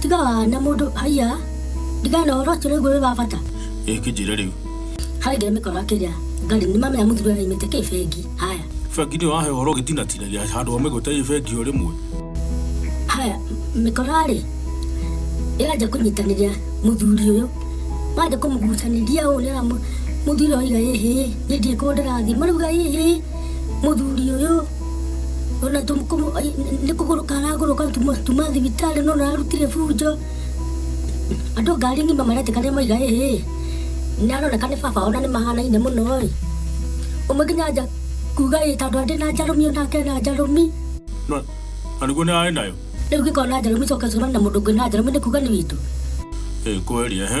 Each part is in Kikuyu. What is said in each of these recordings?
tiga na mundu haiya ndigana horo ũcio nĩguo wĩ wa bata ĩ kĩnjĩre rĩu harĩ ngĩrĩ mĩkoro akĩrĩa ngarĩ nĩ mamenya mũthuri ũyũ aimĩte kĩ bengi haya bengi nĩ wahe ũhoro ũgĩtinatinagia handũ wa mĩgũte ĩ bengi o rĩmwe haya mĩkorarĩ ĩranjia kũnyitanĩria mũthuri ũyũ wanjia kũmũgucanĩria ũũ nĩra mũthuri ũyũ iga ĩhĩ nĩ ndiĩ kũndĩrathi marauga ĩhĩ Mũthuri ũyũ ona nĩ kũgũrũka aragũrũka tuma thibitarĩ no ararutire bunjo andũ ngari ng'ima maretĩkania maiga ĩĩ nĩ aroneka nĩ baba ona nĩ mahanaine mũno ĩ ũmwe nginya anja kuga ĩ tondũ andĩ na njarũmi onake na njarũmi na nĩguo nĩ arĩ nayo rĩu gĩkorwo na njarũmi coka ũcemane na mũndũ ũngĩ na njarũmi nĩ kuga nĩ witũ kweli ehe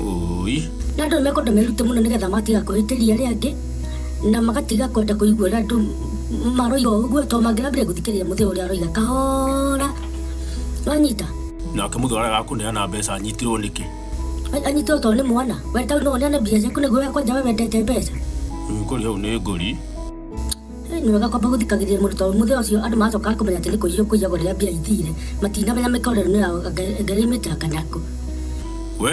Ũi. na andũ nĩmekwenda merute mũno nĩgetha matiga kũhĩtĩria arĩa angĩ na magatiga kwenda kũigua ũrĩa andũ maroiga o ũguo tondũ mangĩrambire gũthikĩrĩria mũthee ũrĩa aroiga kahora wanyita Nake mũthuri arĩa agakũneana mbeca anyitirwo nĩkĩ? anyite o tondũ nĩ mwana we tau no ũneane mbia ciaku nĩguo we kwanja we wendete mbeca Ngũri hau nĩ ngũri. Nĩ wega kwamba gũthikagĩrĩria mũndũ tondũ mũthenya ũcio andũ macokaga kũmenya atĩ nĩ kũiywo kũiyagwo rĩrĩa mbia ithire matinamenya mĩkorerano yao ngai aimĩte akanyakwo We